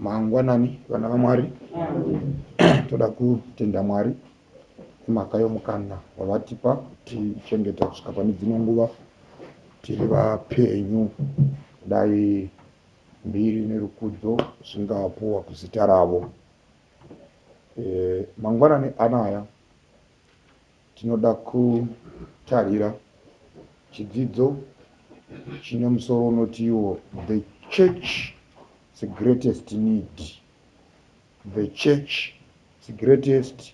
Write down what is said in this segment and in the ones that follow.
mangwanani vana vamwari toda kutenda mwari imhaka yomukana wavatipa kutichengeta kusvika pane dzimwe nguva tiri vapenyu dai mbiri nerukudzo zvingapuwa kuzita ravo e, mangwanani anaya Tinoda kutarira chidzidzo chine musoro unoti iwo The Church the Greatest Need. The Church the Greatest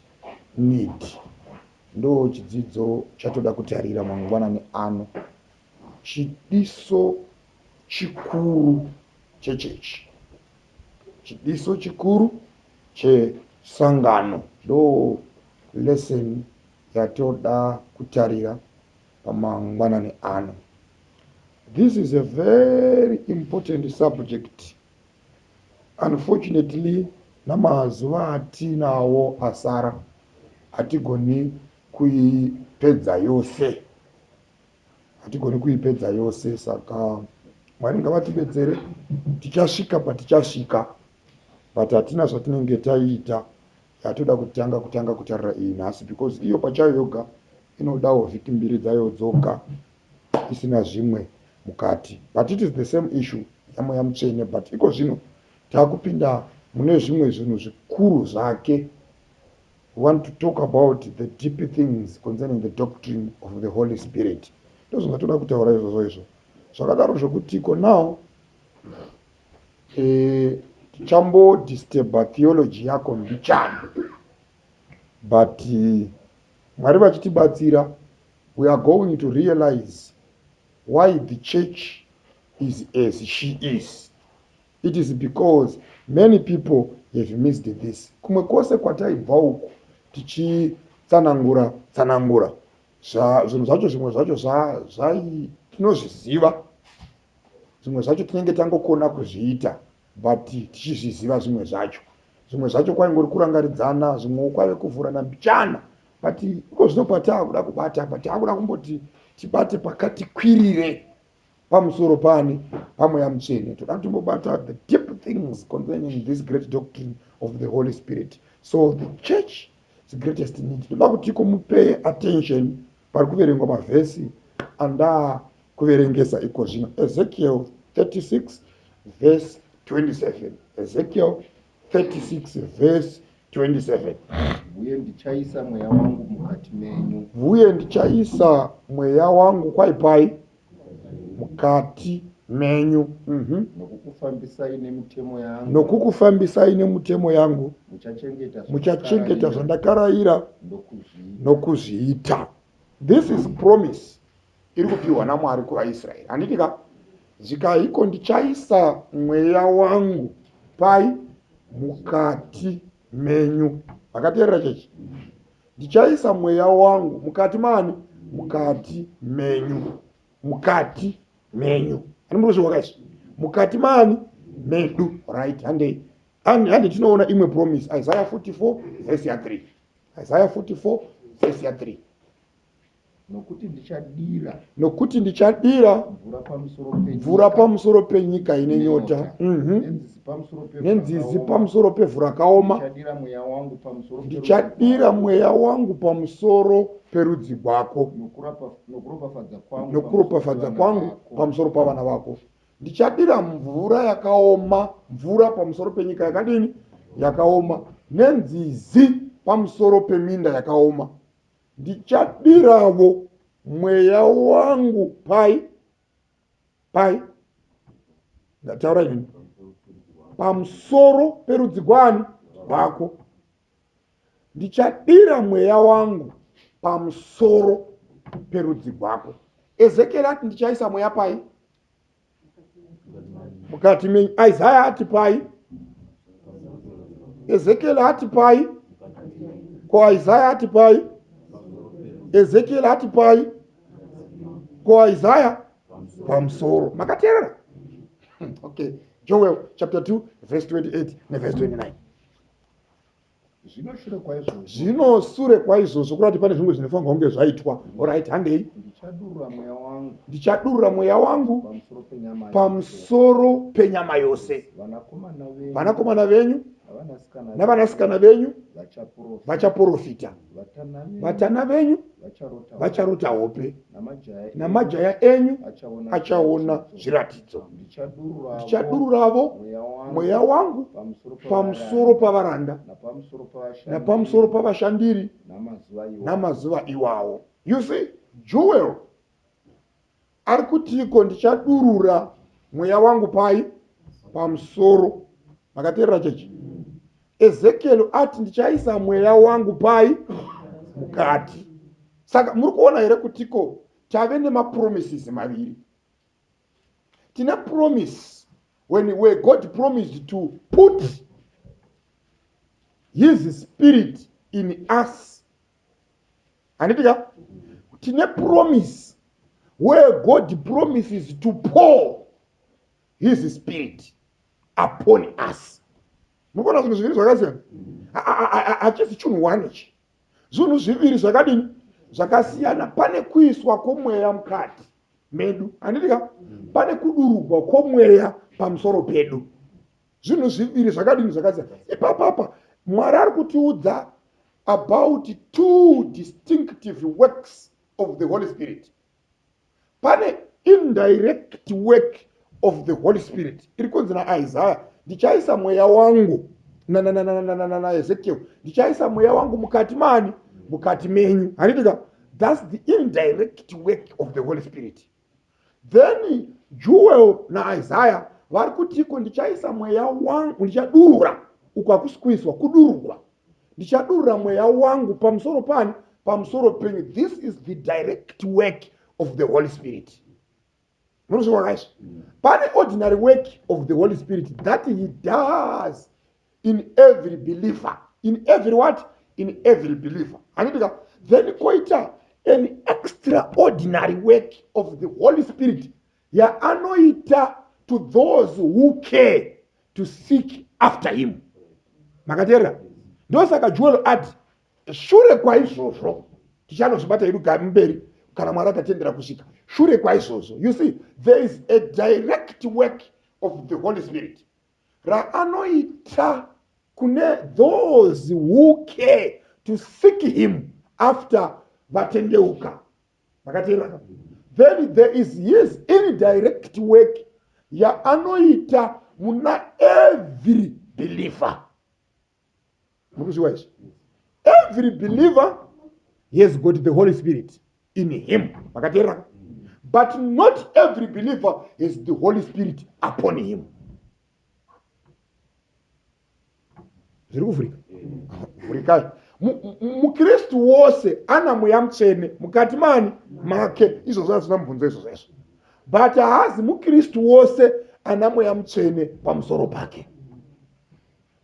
Need ndo chidzidzo chatoda kutarira mangwanani ano. Chidiso chikuru chechechi. chidiso chikuru chesangano ndo lesson yatoda kutarira pamangwanani ano this is a very important subject unfortunately namazuva atinawo asara hatigoni kuipedza yose hatigoni kuipedza yose saka mwari ngavatibetsere tichasvika patichasvika but hatina zvatinenge taiita yatoda kutanga kutanga kutarira iyi nhasi because iyo pachayo yoga inodawo vhiki mbiri dzayo dzoga isina zvimwe mukati but it is the same issue yamweya mutsvene but iko zvino taakupinda mune zvimwe zvinhu zvikuru zvake We want to talk about the deep things concerning the doctrine of the Holy Spirit. Ndozvanga toda kutaura izvozvo izvo. Zvakadaro zvekutiko now eh, tichambo disturba theology yako mbichana but eh, Mwari vachitibatsira we are going to realize why the church is as she is It is because many people have missed this. Kumwe kwose kwataibva uku tichitsanangura tsanangura zvinhu zvacho zvimwe zvacho zvai tinozviziva zvimwe zvacho tinenge tangokona kuzviita but tichizviziva zvimwe zvacho zvimwe zvacho kwaingori kurangaridzana zvimwewo kwave kuvhurana mbichana but iko zvino pataakuda kubata apa taakuda kumboti tibate pakati kwirire pamusoro paani pamweya mutsvene toda timbobata the deep things concerning this great doctrine of the holy spirit so the church the greatest need toda kuti kumupe attention pari kuverengwa mavhesi andaa kuverengesa iko zvino ezekiel 36 vhesi 27 ezekiel 36 vhesi 27 uye ndichaisa mweya wangu mukati menyu uye ndichaisa mweya wangu kwaipai mukati menyu mhm. nokukufambisai nemitemo yangu nokukufambisai nemitemo yangu muchachengeta zvandakarayira nokuzviita this is promise iri kupiwa naMwari kuvaIsraeri. Handiti ka? Zvikaiko ndichaisa mweya wangu pai? Mukati menyu. Vakateerera chechi? Ndichaisa mweya wangu mukati mani? Mukati menyu. Mukati menyu. Ani muri kuzviwa kaizvi? Mukati mani? Medu. Right, handei. Hande tinoona imwe promise. Isaiah 44 verse ya 3. Isaiah 44 verse ya 3. nokuti ndichadira nokuti ndichadira mvura pamusoro penyika, mvura pamusoro penyika ine nyota mhm. nenzizi pamusoro pevhu rakaoma ndichadira mweya wangu pamusoro perudzi rwako nokuropafadza kwangu pamusoro pavana vako ndichadira mvura yakaoma mvura pamusoro penyika yakadini yakaoma nenzizi pamusoro peminda yakaoma ndichadiravo mweya wangu pai pai ndataura ini pamusoro perudzi gwani rwako ndichadira mweya wangu pamusoro perudzi rwako ezekieri ati ndichaisa mweya pai mukati menyu isaya ati pai ezekiel ati pai ko isaya ati pai ezekiel ati pai ko isaya pamusoro makateerera okay joel chapter 2 verse 28 neverse 29 zvino shure kwaizvozvo zvino sure kwaizvozvo kurati pane zvimwe zvinofanirwa kunge zvaitwa orit handei ndichadurura mweya wangu ndichadurura mweya wangu pamusoro penyama pamusoro penyama yose vanakomana venyu vanakomana venyu navanasikana venyu vachaprofita vachaprofita vatana venyu vacharota hope namajaya enyu achaona zviratidzo ndichadururavo mweya wangu pamusoro pavaranda napamusoro pavashandiri namazuva iwawo you see jewel Ari kutiiko ndichadurura mweya wangu pai? Pamusoro. Makateerera chechi? Ezekiel ati ndichaisa mweya wangu pai? Mukati. Saka muri kuona here kutiko tave nemapromises maviri. Tine promise when where God promised to put his spirit in us handiti ka tine promise where god promises to pour his spirit upon us mukuona zvinhu zviviri zvakasiyana hachisi chinhu one ichi zvinhu zviviri zvakadini zvakasiyana pane kuiswa kwomweya mukati medu handiti ka pane kudurugwa kwomweya pamusoro pedu zvinhu zviviri zvakadini zvakasiyana ipapapa mwari ari kutiudza about two distinctive works of the holy spirit pane indirect work of the holy spirit iri kunzi naisaya ndichaisa mweya wangu naezekiel ndichaisa mweya wangu mukati mani mukati menyu handitika thats the indirect work of the holy spirit then jewel naisaya vari kutiko ndichaisa mweya wangu ndichadurura uko hakusi kuiswa kudururwa ndichadurura mweya wangu pamusoro pani pamusoro penyu this is the direct work of the holy spirit munozviwakaiswa pane ordinary work of the holy spirit that he does in every believer in every what in every believer handitika then koita an extraordinary work of the holy spirit yaanoita to those who care to seek after him makateerera ndosaka jewel ati shure kwaizvozvo tichanozvibata idu mberi kana mwari akatendera kusvika shure kwaizvozvo you see there is a direct work of the holy spirit raanoita kune those who care to seek him after vatendeuka vakateerera ka then there is his indirect work yaanoita muna every believer mukuzviwa izvi every believer has got the holy spirit in him makateeraka but not every believer has the holy spirit upon him zviri kuvhurika vhurikai mukristu wose ana mweya mutsvene mukati mani make izvozvo hazvina mubvunzo izvozvo izvo but haazi mukristu wose ana mweya mutsvene pamusoro pake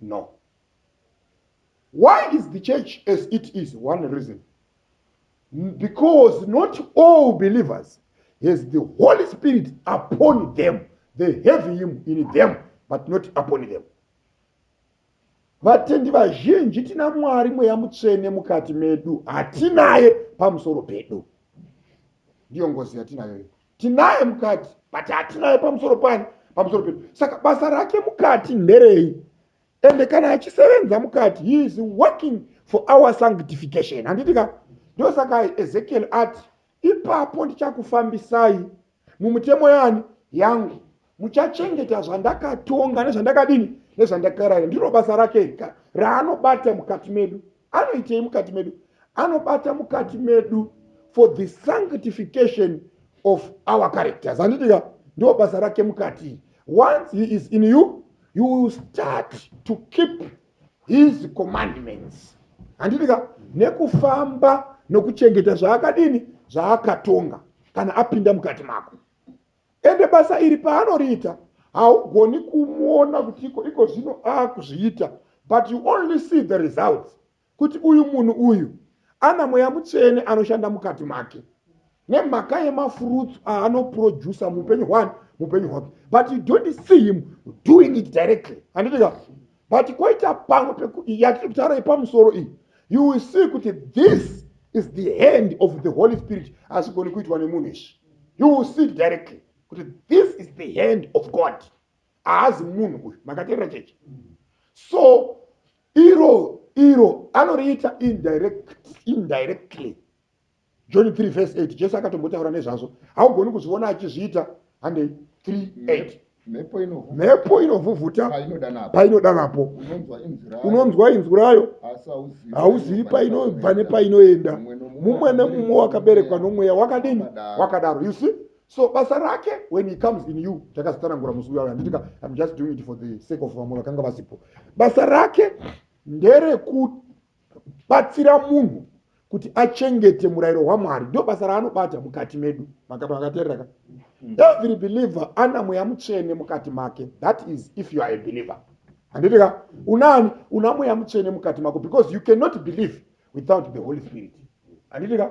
no why is the church as it is one reason because not all believers has the holy spirit upon them they have him in them but not upon them vatendi vazhinji tina mwari mweya mutsvene mukati medu hatinaye pamusoro pedu ndiyo ngozi yatinayo tinaye mukati but hatinaye pamusoro pani pamusoro pedu saka basa rake mukati nderei ende kana achisevenza mukati he is working for our sanctification handiti ka ndosaka ezekiel ati ipapo ndichakufambisai mumutemo yani yangu muchachengeta zvandakatonga nezvandakadini nezvandakaraya ndiro basa rake rika raanobata mukati medu anoitei mukati medu anobata mukati medu for the sanctification of our characters handitika ndo basa rake mukati once he is in you you will start to keep his commandments handitika nekufamba nokuchengeta zvaakadini zvaakatonga kana apinda mukati mako ende basa iri paanoriita haugoni kumuona kuti iko iko zvino akuzviita but you only see the results kuti uyu munhu uyu ana mweya mutsvene anoshanda mukati make nemhaka yemafurutsu aanoproducer muupenyu hwani muupenyu hwake but you don't see him doing it directly handitika but kwaita pamwe yatiri kutaura yepamusoro iyi you will see kuti this is the hand of the holy spirit hazvigoni kuitwa nemunhu izvi you will see directly kuti this is the hand of god haazi munhu uyu makateerera chechi so iro iro anoriita indirectly john 3 vese 8 jesu akatombotaura nezvazvo haugoni kuzviona achizviita handei 38 mhepo inovhuvhuta painoda napo unonzwa inzwi rayo hauzivi painobva nepainoenda mumwe nemumwe wakaberekwa nomweya wakadini wakadaro you see so basa rake when he comes in you takazitsanangura musi uya handitika im just doing it for the sake of vamwe vakanga vasipo basa rake nderekuti batsira munhu kuti achengete murayiro wamwari ndo basa raanobata mukati medu makatakaterera ka every believer ana mweya mutsvene mukati make that is if you are a believer handiti ka unani una mweya mutsvene mukati mako because you cannot believe without the holy spirit handiti ka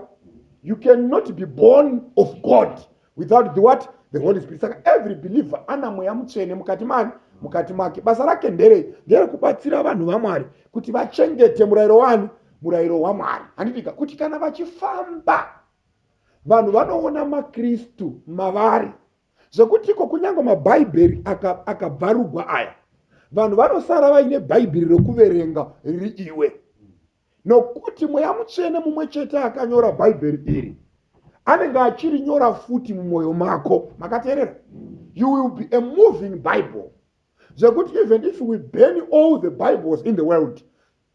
you cannot be born of god without the what the holy spirit saka every believer ana mweya mutsvene mukati mani mukati make basa rake nderei nderekubatsira vanhu vamwari kuti vachengete murayiro wani murayiro wamwari handitika kuti kana vachifamba vanhu vanoona makristu mavari zvekuti iko kunyange mabhaibheri akabvarugwa aka aya vanhu vanosara vaine bhaibheri rekuverenga riri iwe nokuti mweya mutsvene mumwe chete akanyora bhaibheri iri anenge achirinyora futi mumwoyo mako makateerera you will be a moving bible zvekuti even if we burn all the bibles in the world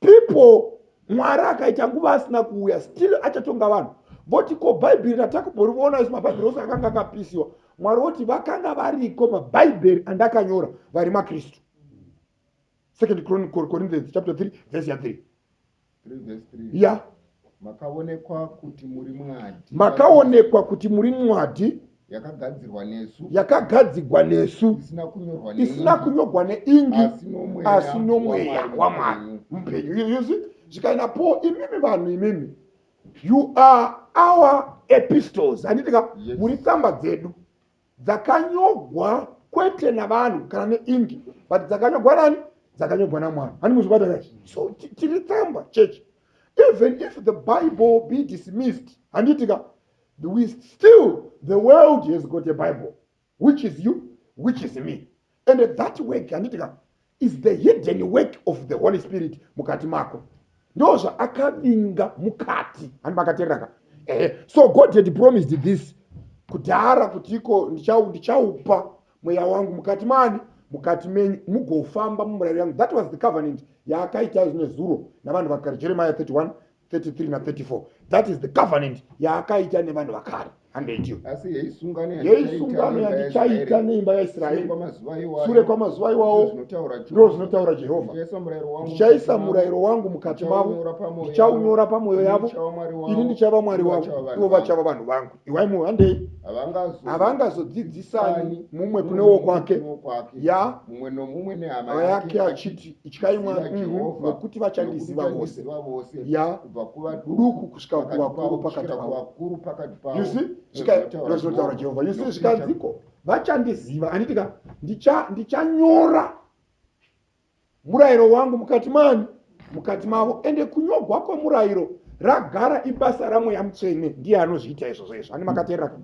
people mwari akaita nguva asina kuuya still achatonga vanhu voti ko bhaibheri ratakumboriona isu mabhaibheri ose akanga akapisiwa mwari voti vakanga variko mabhaibheri andakanyora vari makristu second corinthians chapter 3 vhesi ya 3 ya makaonekwa kuti muri mwadi makaonekwa kuti muri mwadi yakagadzirwa nesu yakagadzigwa nesu isina kunyorwa neingi asi nomweya wamwari mupenyu yuzi zvikaina po imimi vanhu imimi you are our epistles handitika muri tsamba dzedu dzakanyogwa kwete navanhu kana neingi but dzakanyogwa nani dzakanyogwa namwana hani muzvibata ka so tiri tsamba church even if the bible be dismissed handiti ka we still the world has got a bible which is you which is me and that work handiti ka is the hidden work of the holy spirit mukati mako ndo zvaakavinga mukati handi makaterera ka eh, so god had promised this kudhara kuti iko ndichaupa mweya wangu mukati mani mukati menyu mugofamba mumurayiro yangu that was the covenant yaakaita zvine zuro navanhu vakagara jeremiah 31 33 na 34 that is the covenant yaakaita nevanhu vakare handeiyo yeisungano yandichaita neimba yaisraeri sure kwamazuva iwawo ndoo zvinotaura jehovha ndichaisa murayiro wangu mukati mavo ndichaunyora pamwoyo yavo ini ndichava mwari wavo ivo vachava vanhu vangu iwai muhandei havangazodzidzisani mumwe kune wokwake ya mumwe nomumwe nehama yake achiti ityai mwari mhm, nokuti vachandiziva vose ya kubva kuvaduku kusvika kuvakuru pakati pavakuru pakati pavo yusi zvinotaura jehovha yusi zvikanziko vachandiziva anditika ndichanyora murayiro wangu mukati mani mukati mavo ende kunyogwa kwemurayiro ragara ibasa ramweya mutsvene ndiye anozviita izvozvo izvo ani makateerera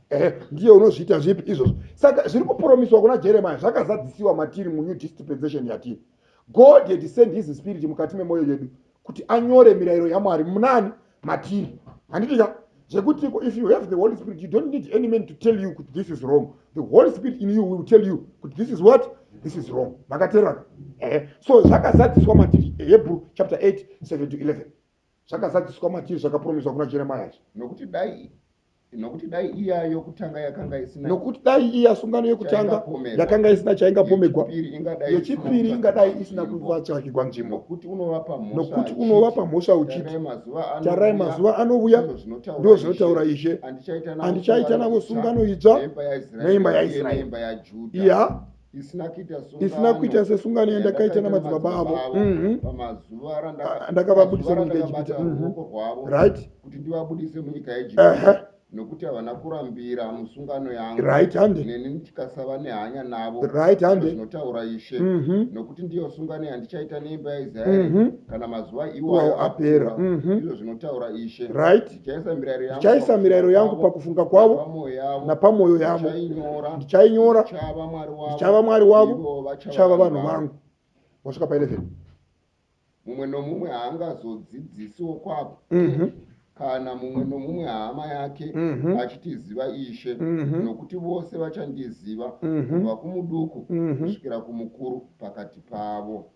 ehe ndiye unozviita zvipi izvozvo saka zviri kupromiswa kuna jeremiya zvakazadzisiwa matiri munew dispensation yatiri god had send his spirit mukati memwoyo yedu kuti anyore mirayiro yamwari munani matiri handiti ka zvekuti if you have the holy spirit you don't need any man to tell you kuti this is wrong the holy spirit in you will tell you kuti this is what this is wrong makaterana eh. so zvakazadziswa matiri hebrew chapter 8 7 to 11 zvakazadziswa matiri zvakapromiswa kuna jeremaya nokuti dai nokuti dai iya yokutanga yakanga isina nokuti dai iya sungano yokutanga yakanga isina chaingapomegwa yechipiri ingadai isina kuvatsvakigwa nzvimbo nokuti unova pamhosva uchiti tarai mazuva anouya ndo zvinotaura ishe andichaita navo sungano itsva neimba yaisraeri iya isina kuita sesungano yandakaita namadzibaba avo mhm. ndakavabudisa munyika yejipita mhm. right kuti ndivabudise munyika yejipita nokuti havana kurambira musungano yangu right hande neni ndikasava nehanya navo right hande zvinotaura ishe mm -hmm. nokuti ndiyo sungano yandichaita neimba yaisraeri mm -hmm. kana mazuva iwayo apera mm -hmm. izvo zvinotaura ishe right ndichaisa mirayiro yangu pakufunga kwavo napamwoyo yavo ndichainyora ndichava mwari wavo ndichava vanhu vangu wasvika pa 11 mumwe nomumwe haangazodzidzisiwo kwako mhm. kana mumwe nomumwe hama yake mhm. achitiziva ishe mhm. nokuti vose vachandiziva kubva kumuduku kusvikira kumukuru pakati pavo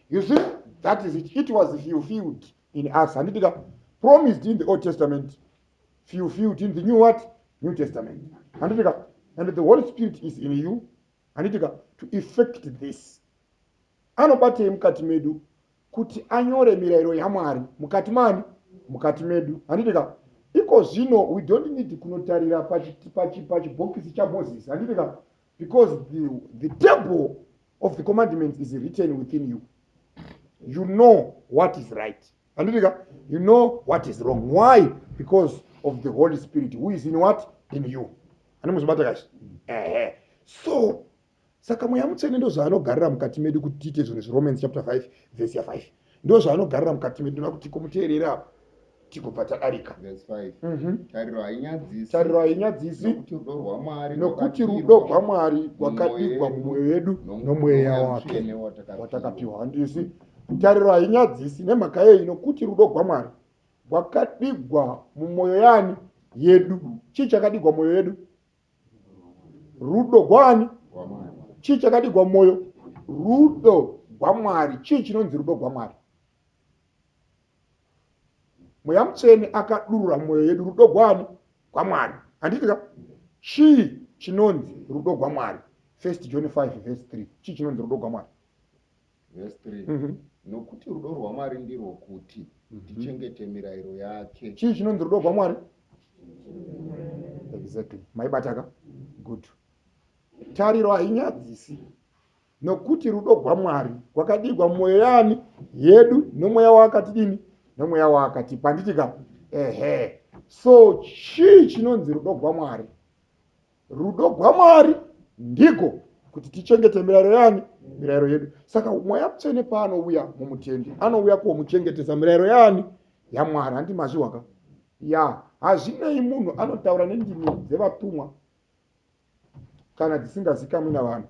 you see that is it, it was fulfilled in us handiti ka promised in the old testament few few in the new what new testament handiti ka and the holy spirit is in you handiti ka to effect this anobatei mukati medu kuti anyore mirayiro yamwari mukati mani mukati medu handiti ka iko zvino we don't need kunotarira pachibhokisi chamoses handiti ka because the, the table of the commandments is written within you you know what is right anditika you know what is wrong why because of the holy spirit who is in what in you ane muzvibata kashi ehe so saka mweya mutsvene ndozvaanogarira mukati medu kuti tiite zvinhu zviromans chapter 5 vhesi ya 5 ndozvaanogarira mukati medu nokuti kumuteerera apa tigobva tadarika mhm. tariro hainyadzisi nokuti rudo rwamwari rwakadigwa mumwoyo yedu nomweya wake watakapiwa handisi tariro hainyadzisi nemhaka yeyi nokuti rudo rwamwari rwakadigwa mumwoyo yani yedu chii chakadigwa mwoyo yedu rudo gwani chii chakadigwa mwoyo rudo gwamwari chii chinonzi rudo gwamwari mweya mutsvene akadurura mwoyo yedu rudo gwani gwamwari handitika chii chinonzi rudo gwamwari first john 5 vese 3 chii chinonzi rudo gwamwari Verse 3 Mhm. nokuti rudo rwamwari ndirwo kuti tichengete mirayiro yake chii chinonzi rudo rwamwari exactly maibataka good tariro hainyadzisi nokuti rudo rwamwari rwakadigwa mumwoyo yaani yedu nomweya waakatidini nomweya waakatipa handiti ka ehe so chii chinonzi rudo rwamwari rudo gwamwari ndiko kuti tichengete mirayiro yani mirayiro yedu saka mweya mutsvene paanouya mumutendi anouya komuchengetesa mirayiro yani yamwari handi mazvihwaka ya hazvinei munhu anotaura nendimi dzevatumwa kana dzisingazikamwi navanhu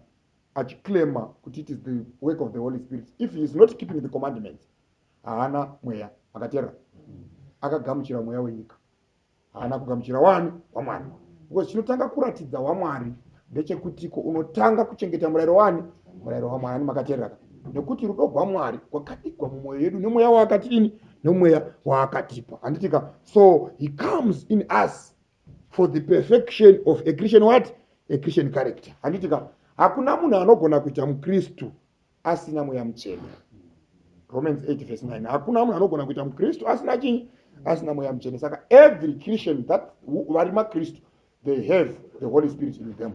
achiclaima kuti it is the work of the holy spirit if he is not keeping the commandments haana mweya akateerera akagamuchira mweya wenyika haana kugamuchira wani wamwari because chinotanga kuratidza wamwari ndechekutiko unotanga kuchengeta murayiro wani murayiro wamwari ani makateereraka nekuti rudo rwamwari rwakadigwa mumwoyo yedu nemweya waakatiini nemweya waakatipa handitika so he comes in us for the perfection of a christian what a christian character handitika hakuna munhu anogona kuita mukristu asina mweya mutsvene romans 8 vese 9 hakuna munhu anogona kuita mukristu asina chii asina mweya mutsvene saka every christian that vari makristu they have the holy spirit in them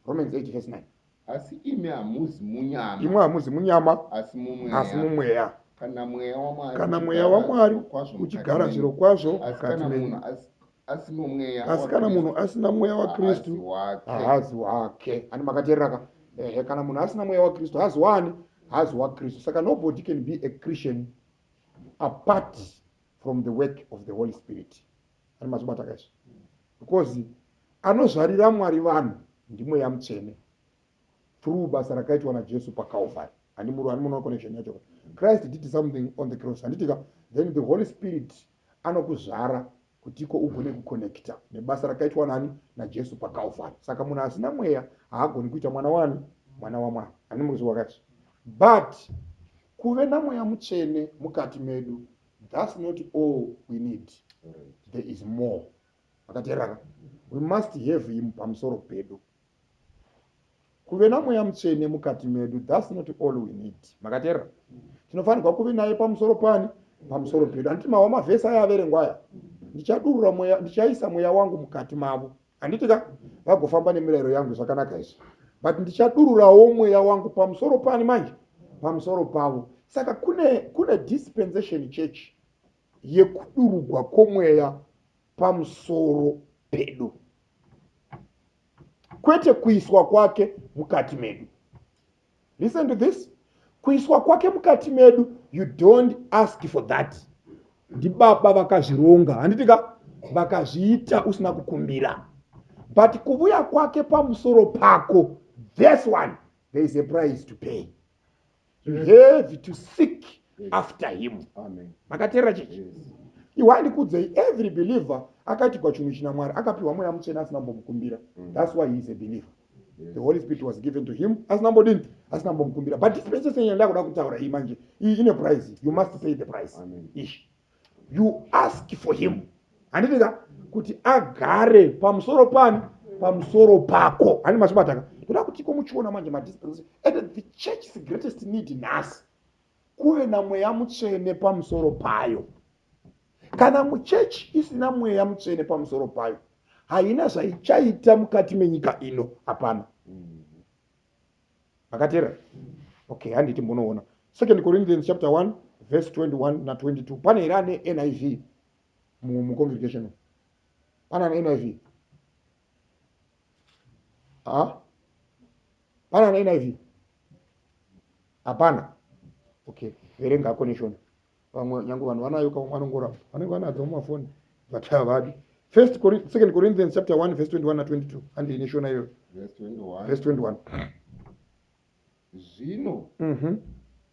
romans 8 vese 9 asi imi hamuzi munyama imwe hamuzi munyama asi mumweya kana mweya wamwari uchigara zviro kwazvo mukati menyu asi mumweya asi kana munhu asina mweya wakristu haazi wake ani makateerera ka ehe kana munhu asina mweya wakristu haazi waani haazi wakristu saka nobody can be a christian apart from the work of the holy spirit ani mazvibata ka izvo because anozvarira mwari vanhu ndimweya mutsvene through basa rakaitwa najesu pacalvary ani muru ani munoa connection yacho christ did something on the cross handitika then the holy spirit anokuzvara kutiko ugone kuconnecta nebasa rakaitwa nani najesu pacalvary saka munhu asina mweya haagoni kuita mwana wani mwana wamwari ani mukuzviwa kachi but kuve namweya mutsvene mukati medu thats not all we need there is more akateraka we must have him pamusoro pedu kuve namweya mutsvene mukati medu thats not all we need makateerera tinofanirwa kuve naye pamusoro pani pamusoro pedu handiti mawa mavhesi aya averengwa aya ndichadurura mweya ndichaisa mweya wangu mukati mavo handiti ka vagofamba nemirayiro yangu zvakanaka izvi but ndichadururawo mweya wangu pamusoro pani manje pamusoro pavo saka kune kune dispensation church yekudurugwa kwomweya pamusoro pedu kwete kuiswa kwake mukati medu listen to this kuiswa kwake mukati medu you don't ask for that ndibaba vakazvironga handiti ka vakazviita usina kukumbira but kuvuya kwake pamusoro pako this one there is a price to pay to have to seek after him makateerera chechi iwe andikudzei every believer akaitigwa chinhu china mwari akapiwa mweya mutsvene asina mbomukumbira mm. thats why he is a believer the holy spirit was given to him asina mbodini asina mbomukumbira but dispensation yandakuda kutaura iyi manje iyi ine price you must pay the price ishi you ask for him handiti ka kuti agare pamusoro pani pamusoro pako handi machibataka toda kuti ko muchiona manje madispensation and the church is greatest need nhasi kuve namweya mutsvene pamusoro payo kana muchechi isina mweya mutsvene pamusoro payo haina zvaichaita mukati menyika ino hapana makateerera okay handiti munoona second corinthians chapter 1 verse 21 na 22 pane here ane niv mucongregation pane ane niv ah? pane ane niv hapana okay verenga connection vamwe nyange vanhu vanayo ka umwe anongoramba vanenge vanadzo mumafoni but havadi first second corinthians chapter 1 verse 21 na22 handi ine shona iyoyo verse 21 zvino mhm.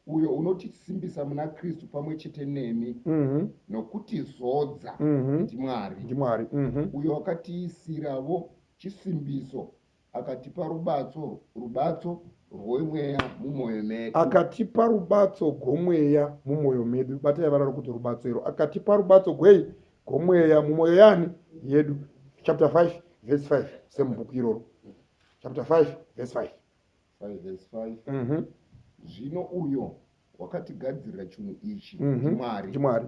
uyo unotisimbisa muna kristu pamwe chete nemi mhm. nokuti zodza mhm. ndimwari ndimwari uyo wakatiisiravo chisimbiso Akatipa rubatso, rubatso rwemweya mumwoyo medu. Akatipa rubatso gwomweya mumwoyo medu. Batai vara rokuti rubatso iro. Akatipa rubatso gwei? Gwomweya mumwoyo yani? Yedu. Chapter 5 verse 5 semubhuku iroro. Chapter 5 verse 5. 5 verse 5. Mm -hmm. Zvino uyo wakatigadzirira chinhu ichi mm -hmm. Mwari. Mwari.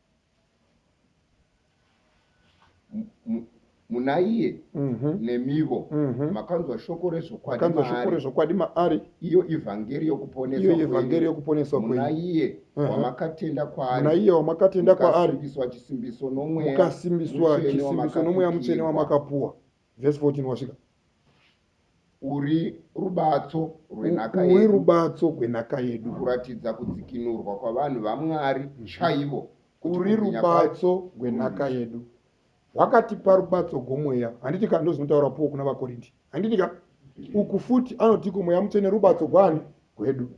munaiye mhm. nemivo mhm. makanzwa shoko rezvokwakanzwa shoko rezvokwadi maari iyo ivhangeri yokuponesaiyo ivhangeri yokuponeswa kwenaiye wamakatenda kwaari naiye wamakatenda kwaari mukasimbiswa chisimbiso nomweya mukasimbiswa chisimbiso nomweya mutsvene wamakapuwa vhesi 14 wasvika Uri rubatso rwenhaka yedu. Uri rubatso rwenhaka yedu. Kuratidza kudzikinurwa kwavanhu vaMwari chaivo. Uri rubatso rwenhaka yedu. Wakatipa rubatso gwomweya. Handiti ka ndozvinotaura Paul kuna vaKorindi. Handiti ka? Uku futi anotiko mweya mutsvene rubatso gwani gwedu.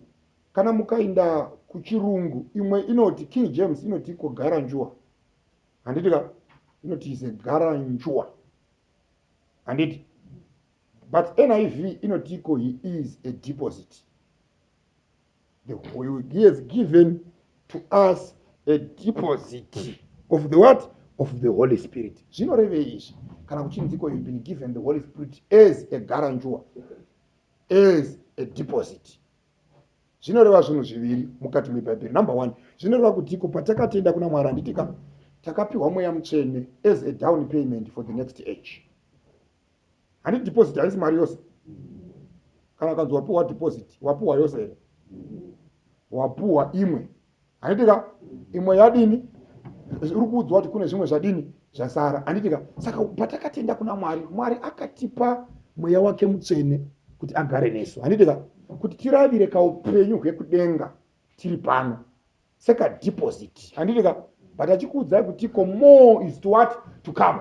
Kana mukainda kuchirungu imwe inoti King James inotiko gara njuwa. Handiti ka? Inoti is a gara njuwa. handiti but niv inotiko he is a deposit the, he has given to us a deposit of the what of the holy spirit zvinorevei izvi kana kuchinziko youve been given the holy spirit as a garanjua as a deposit zvinoreva zvinhu zviviri mukati mebhaibheri number one zvinoreva kutiko patakatenda kuna mwari handiti ka takapiwa mweya mutsvene as a down payment for the next age handi deposit haisi mari yose kana kanzi wapiwa deposit wapiwa yose here wapiwa imwe handiti ka imwe yadini uri kuudzwa kuti kune zvimwe zvadini zvasara handiti ka saka patakatenda kuna mwari mwari akatipa mweya wake mutsvene kuti agare nesu handiti ka kuti tiravire kaupenyu hwekudenga tiri pano sekadeposit handiti ka but achikuudzai kuti ko more is to what to come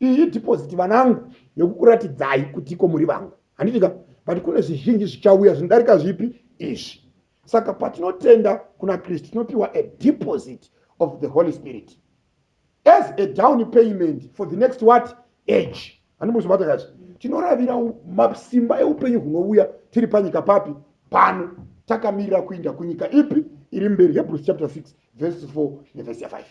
iyi deposit vanangu yokukuratidzai kuti ko muri vangu handiti ka but kune zvizhinji zvichauya zvinodarika zvipi izvi saka patinotenda kuna kristu tinopiwa a deposit of the holy spirit as a down payment for the next what age handimbozvibata kazvi tinoravira masimba eupenyu hunouya tiri panyika papi pano takamirira kuinda kunyika ipi iri mberi hebrews chapter 6 verse 4 neverse 5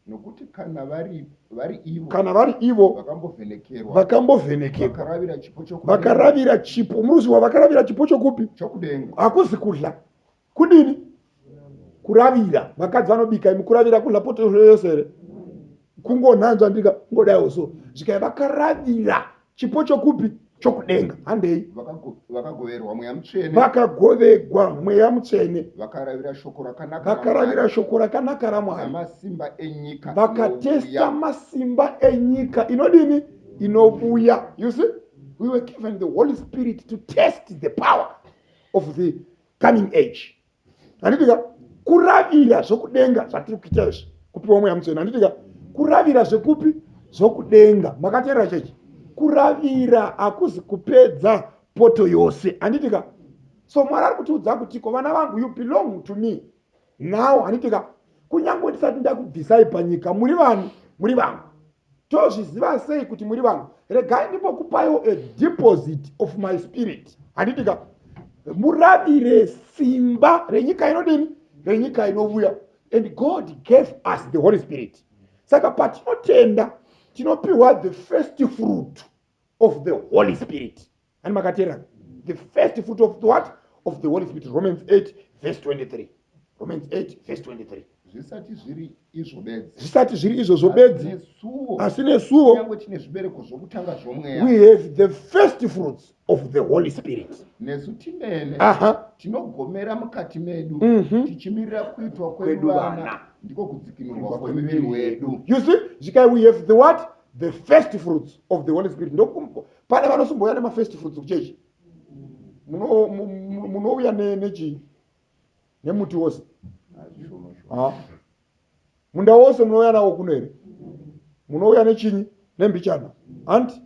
Nokuti kana vari, vari ivo, kana vari ivo vakambovhenekerwa, vakambovhenekekwa vakaravira chipo chokudenga, vakaravira chipo muruziwa vakaravira chipo chokupi chokudenga. hakuzi kudla kudini kuravira vakadzi vanobika imi kuravira kudla poto yose here kungonhanzva ndika ngodaiwo so zvikai vakaravira chipo chokupi chokudenga handei vakagoverwa mweya mutsvene vakagovegwa mweya mutsvene vakaravira shoko rakanaka vakaravira shoko rakanaka ramwari masimba enyika vakatesta masimba enyika inodini inovuya you see we were given the holy spirit to test the power of the coming age handitika kuravira zvokudenga zvatiri kuita izvi kupiwa mweya mutsvene handitika kuravira zvekupi zvokudenga makateerera chechi kuravira hakuzi kupedza poto yose handitika so mwari ari kutiudza kutiko vana vangu you belong to me now handitika kunyange ndisati ndakubvisai panyika muri vanhu muri vangu tozviziva sei kuti muri vanhu regai ndimbokupaiwo a deposit of my spirit handiti ka muravire simba renyika inodini renyika inovuya and god gave us the holy spirit saka patinotenda tinopiwa the first fruit of the holy spirit Ani makateerana? The first fruit of the what? Of the Holy Spirit. Romans 8 verse 23. Romans 8 verse 23. zvisati zviri izvo bedzi Zvisati zviri izvozvo bedzi, nesuwo asi nesuwo kunyange tine zvibereko zvokutanga zvomweya we have the first fruits of the Holy Spirit. nesu timene Aha. tinogomera mukati medu Mhm. tichimirira kuitwa Kwedu kwedu vana vana. ndiko kudzikinurwa kwemiviri wedu You see, Zvikai, we have the what? The first fruits of the Holy Spirit. Ndoku- pane vanosumbouya nemafirst fruits kuchechi munouya nechii nemuti wose ah. munda wose munouya nawo kuno here munouya nechinyi nembichana hanti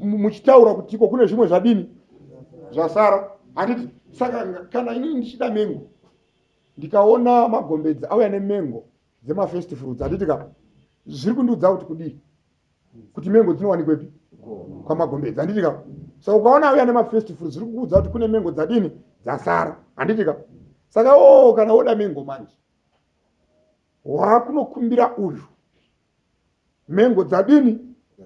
muchitaura kuti ko kune zvimwe zvadini zvasara handiti saka kana inini ndichida mengo ndikaona magombedzi auya nemengo dzema first fruits handiti ka zviri kundiudza kuti kudii kuti mengo dzinowanikwepi kwamagombedzi handiti ka so ukaona auya nema first fruits zviri kukuudza kuti kune mengo dzadini dzasara handiti ka saka o oh, kana woda mengo manje wakunokumbira uyu mengo dzadini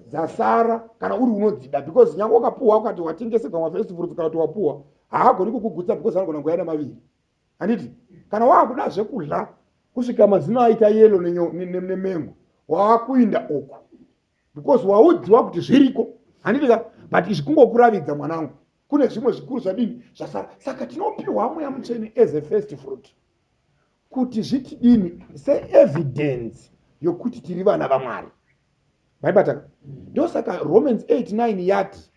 dzasara kana uri unodzida because nyange wakapuhwa ukati watengeserwa mafirst fruits kana kuti wapuhwa haagoni kukugutsa because anogona kuya nemaviri handiti kana waakuda zvekudla kusvika mazino aita yelo nemengo waakuinda uku because waudziwa kuti zviriko handiti ka but izvi kungokuravidza mwanangu kune zvimwe zvikuru zvadini zvasara saka tinopiwa mweya mutsvene as a first fruit kuti zvitidini seevidence yokuti tiri vana vamwari maibataka ndosaka romans 89 yati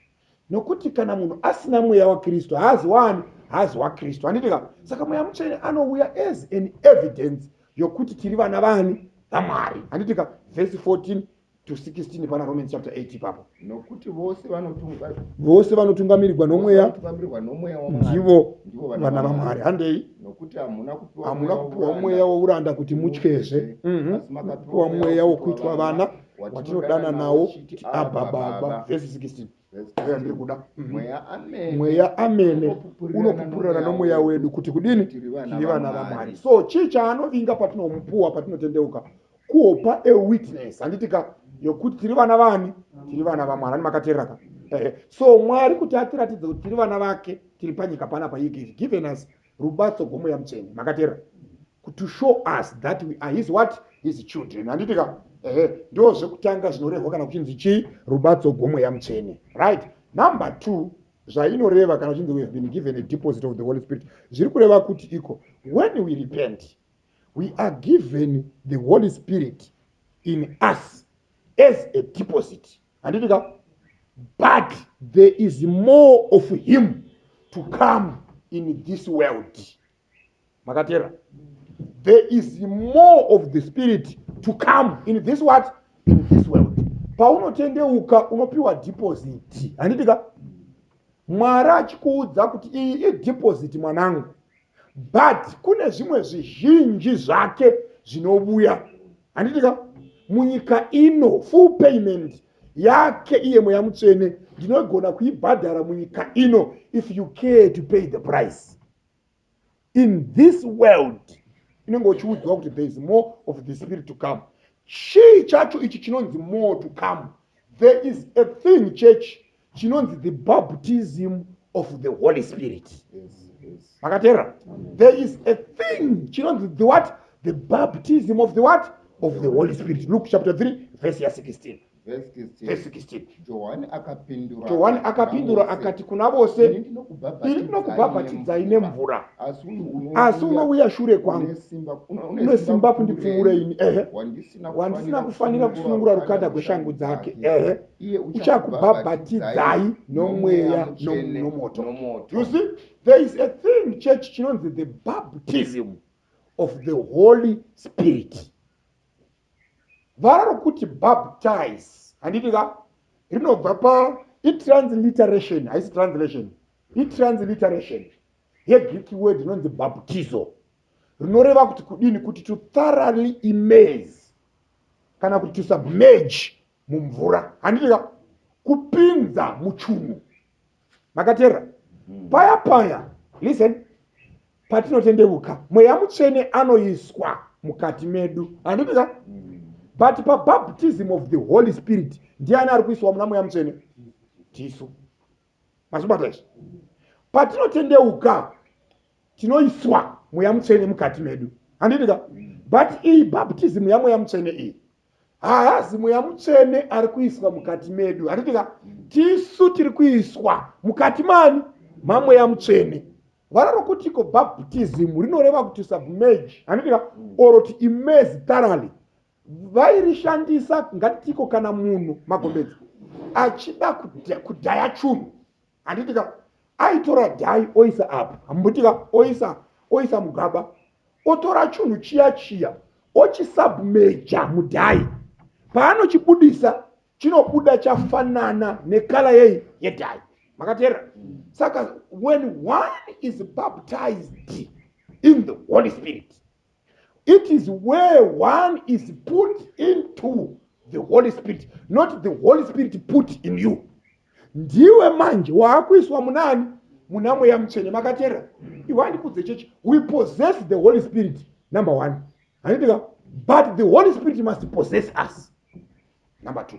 nokuti kana munhu asina mweya wakristu haazi waani haazi wakristu handitika saka mweya mutsvene anouya as an evidence yokuti tiri vana vani vamwari handitika vhesi 14 to 16 pana romans chapter 8 ipapo nokuti vose vanotunga vose vanotungamirirwa nomweya ndivo vana vamwari handei hamuna kupiwa mweya wouranda kuti mutyezve mhm. kupiwa mweya wokuitwa vana mm -hmm. watinodana nawo kuti abba baba vhesi 16 aya ndiri kuda mhm. mweya amene unopupurirana nomweya wedu kuti kudini tiri vana vamwari so chii chaanovinga patinomupuwa patinotendeuka kuhopa a witness handiti ka yokuti tiri vana vani tiri vana vamwari ani makateerera ka so mwari kuti atiratidze kuti tiri vana vake tiri panyika panapa he given us Rubatso gomo yamutsenge makateera kuti to show us that we are his what his children handiti ka ehe ndo zvekutanga zvinorehwa kana kuchinzi chii rubatso gomo yamutsvene right number two zvainoreva kana uchinzi we have been given a deposit of the holy spirit zviri kureva kuti iko when we repent we are given the holy spirit in us as a deposit handiti ka but there is more of him to come in this world makateera there is more of the spirit to come in this what in this world paunotendeuka unopiwa deposit handiti ka mwari achikuudza kuti iyi ideposit mwanangu but kune zvimwe zvizhinji zvake zvinovuya handiti ka munyika ino full payment yake iye mweya mutsvene ndinogona kuibhadhara munyika ino if you care to pay the price in this world inenge uchiudzwa kuti there is more of the spirit to come chii chacho ichi chinonzi more to come there is a thing church chinonzi the baptism of the holy spirit makateerera there is a thing chinonzi the what the baptism of the what of the holy spirit luke chapter 3 verse ya 16 johani akapindura akati kuna vose ini ndinokubhabhatidzai nemvura asi unouya shure kwangu une simba kundipfuura ini ehe wandisina kufanira kusunungura rukanda gweshangu dzake ehe uchakubhabhatidzai nomweya nomoto you see there is a thing church chinonzi the baptism of the holy spirit vara rokuti baptize handiti ka rinobva pa itransliteration haisi translation itransliteration yegreek word inonzi baptizo rinoreva kuti kudini kuti to thoroughly imase kana kuti to submerge mumvura handika kupinza muchunhu makateerera mm. paya paya listen patinotendeuka mweya mutsvene anoiswa mukati medu handitika mm. but pabaptism of the holy spirit ndiani ari kuiswa muna mweya mutsvene tisu mazvibata izvi patinotendeuka tinoiswa mweya mutsvene mukati medu handitika mm. but iyi baptism yamweya mutsvene iyi haazi mweya mutsvene ari kuiswa mukati medu hatiti ka tisu tiri kuiswa mukati mani mamweya mutsvene vara rokuti ko baptism rinoreva kuti submerge haniti ka or ti immerse thoroughly vairishandisa ngatitiko kana munhu magombedzi achida kudhaya chunhu handiti ka aitora dhai oisa apa hambuti ka oisa oisa mugaba otora chunhu chiya chiya ochisubmeja mudhai paanochibudisa chinobuda chafanana nekala yei yedhai makateerera saka when one is baptized in the holy spirit it is where one is put into the holy spirit not the holy spirit put in you ndiwe manje waakuiswa munaani muna mweya mutsvene makateerera iwe andikudze chechi we possess the holy spirit number one handitika but the holy spirit must possess us number two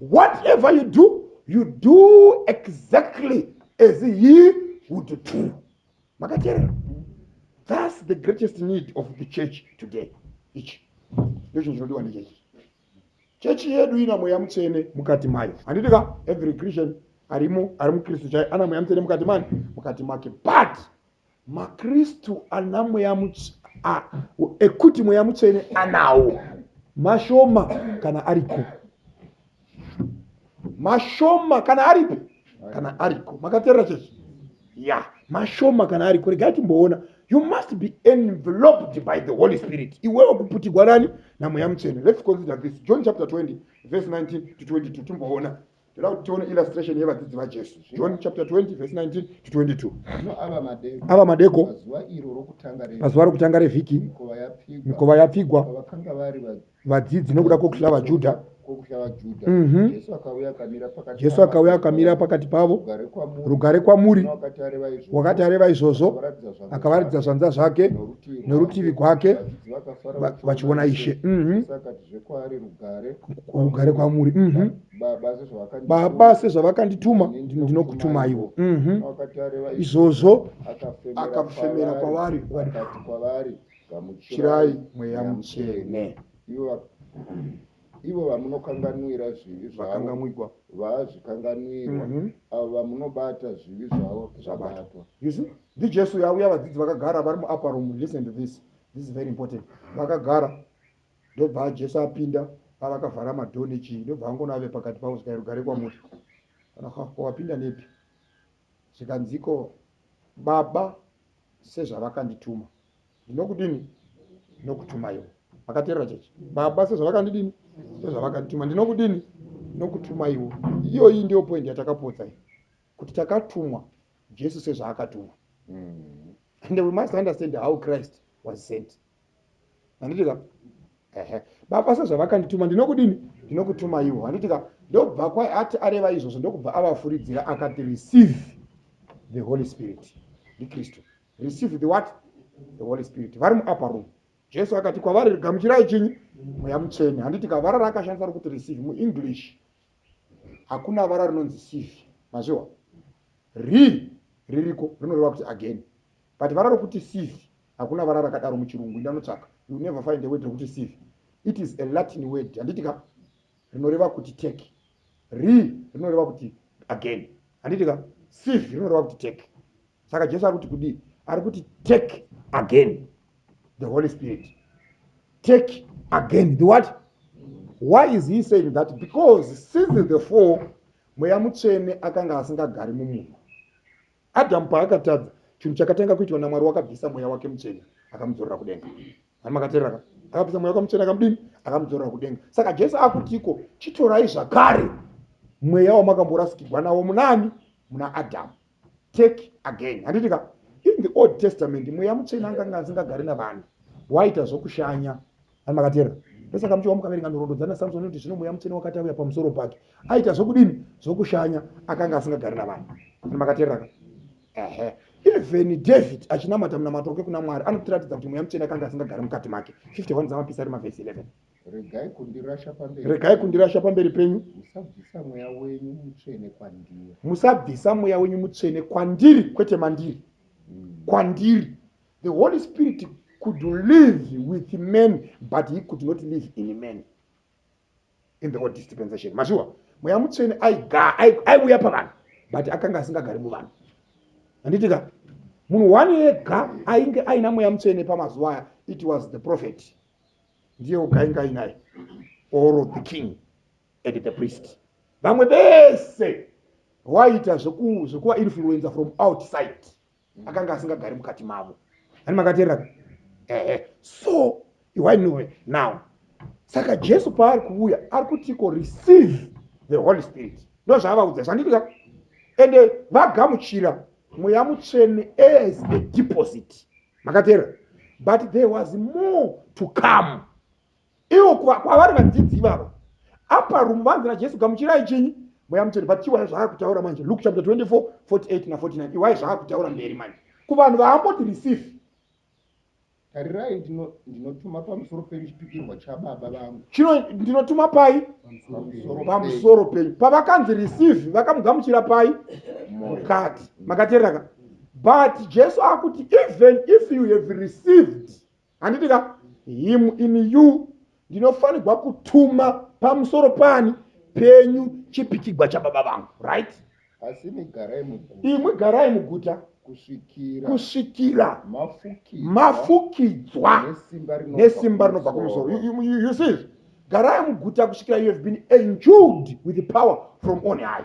whatever you do you do exactly as he would do makateerera thus the greatest need of the church today ichi ndochinhu chinodiwa nechechi chechi yedu ina mweya mutsvene mukati mayo handiti ka every christian arimo ari mukristu chaye ana mweya mutsvene mukati mani mukati make but MaKristu ana mweya ekuti mweya mutsvene anawo mashoma kana ariko mashoma kana aripi kana ariko makaterera chechi ya mashoma kana ariko regai timboona you must be enveloped by the holy spirit iwewe kuputigwa nani namweya mutsvene let's consider this john chapter 20 verse 19 to 22 timboona toda kuti tione illustration yevadzidzi vajesu john chapter 20 verse 19 to 22 ava madeko pazuva rokutanga revhiki mikova yapfigwa vadzidzi nokuda kwokuhla vajudha mhm. jesu akauya akamira pakati pavo rugare kwamuri wakati areva izvozvo akavaratidza zvanza zvake norutivi gwake vachiona ishe mhm. rugare kwamuri mhm. baba sezvavakandituma ndinokutumaiwo mhm. izvozvo akafemera kwavari chirai mweya mutsvene ivo vamunokanganwira zvivi zvakangamwigwa vazvikanganwirwa mhm. avo vamunobata zvivi zvavo zvabatwa ndijesu yauya vadzidzi vakagara vari muaparom listen to this this is very important vakagara Ndobva Jesu apinda pavakavhara madhoo nechii ndobva angoona ave pakati pavo zvikai rugare kwamuri kana ha ko wapinda nepi zvikanziko baba sezvavakandituma ndinokudini ndinokutumaiwo akateerera chechi baba sezvavakandidini sezvavakandituma ndinokudini ndinokutumaiwo iyoyi ndiyo poindi yatakapotsa iyi kuti takatumwa jesu sezvaakatumwa mm. and we must understand how christ was sent handiti ka ehe baba sezvavakandituma ndinokudini ndinokutuma ivo handiti ka ndobva kwai ati areva izvozvo ndokubva avafuridzira akati receive the holy spirit ndikristu receive the what the holy spirit vari muupper room jesu akati kwavari gamuchirai chinyi mweya mutsvene handiti ka vara raakashandisa rokuti receive muenglish hakuna vara rinonzi sive mazviwa ri ririko rinoreva kuti again But vara rokuti sieve hakuna vara rakadaro muchirungu inda unotsvaka you'll never find a word rokuti sieve it is a Latin word handiti ka rinoreva kuti take re rinoreva kuti again handiti ka sieve rinoreva kuti take saka Jesu ari kuti kudii ari kuti take again the Holy Spirit take again the what why is he saying that because since the four mweya mutsvene akanga asingagari mumunhu Adhamu paakatadza, chinhu chakatanga kuitwa naMwari wakabvisa mweya wake mutsvene akamudzorera kudenga. Mwari makatereraka? Akabvisa mweya wake mutsvene akamudini? Akamudzorera kudenga. Saka Jesu akutiko, chitorai zvakare mweya wamakamborasikirwa nawo munani? Muna Adhamu. Take again. Handiti ka? In the Old Testament, mweya mutsvene anganga asingagari navanhu. Waita zvokushanya. ani makateerera ndosaka muchiwa mukaverenga nhoroondo dzana samson inoti zvino mweya mutsvene wakati auya pamusoro pake aita zvokudini zvokushanya akanga asingagari navanhu ani makateereraka ehe even david achinamata munamato wake kuna mwari anotiratidza kuti mweya mutsvene akanga asingagari mukati make 51 dzamapisa ari mavhesi 11 regai kundirasha pamberi regai kundirasha pamberi penyu musabvisa mweya wenyu mutsvene kwandiri musabvisa mweya wenyu mutsvene kwandiri kwete mandiri mm. kwandiri the holy spirit could live with man but he could not live in man in the old dispensation mazviwa mweya mutsvene aiuya pavanhu but akanga asingagari muvanhu anditika munhu one yega ainge aina mweya mutsvene pamazuva aya it was the prophet ndiye oga ainge ainaye or the king and the priest vamwe vese waiita zvekuva influencer from outside akanga asingagari mukati mavo ani makateerera ka ehe so iwainove now saka jesu paari kuuya ari kutiko receive the holy spirit ndo zvaavaudza zvanditika ende vagamuchira mweya mutsvene as a deposit makateerera but there was more to come ivo kwavari vadzidzi ivavo apa rumu vanzi najesu gamuchirai chinyi mweya mutsvene but iwaya zvaakutaura manje luke chapter 24 48 na49 iwaya zvaakutaura mberi manje kuvanhu vaamboti receive tarirai ndinotuma pamusoro penyu chipikirwa chababa vangu chino ndinotuma pai pamusoro penyu pavakanzi receive vakamugamuchira pai mukati makatereraka but jesu akuti even if you have received handiti ka him in you ndinofanirwa kutuma pamusoro pani penyu chipikigwa chababa vangu right asi imwe garai muguta imwe garai muguta kusvikira kusvikira mafukidzwa nesimba rinobva kumusoro you see garai muguta kusvikira you have been endued with power from on high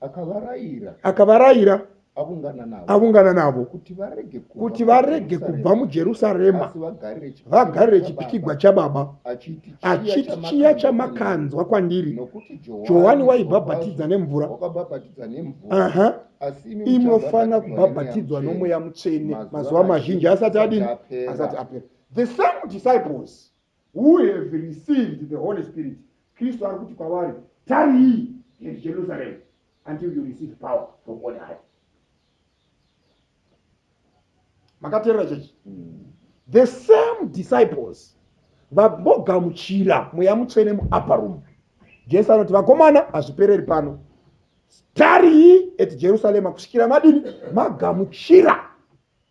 akavarayira akavarayira avungana navo avungana navo kuti varege kubva kuti varege kubva mujerusarema asi vagarire chipikigwa vagarire chababa, chipikigwa chababa achiti achiti chiya chiya chamakanzwa kwandiri nokuti johani waibhabhatidza nemvura wakabhabhatidza nemvura aha asi imi imi muchafanira kubhabhatidzwa nomweya mutsvene mazuva mazhinji asati adini asati apera the same disciples who have received the Holy Spirit, Kristu ari kuti kwavari, Tarii here Jerusalem until you receive power from on high. Makaterera chechi. Mm. The same disciples vabogamuchira mweya mutsvene muupper room. Jesu anoti vakomana hazvipereri pano. Tarii at Jerusalem kusvikira madini magamuchira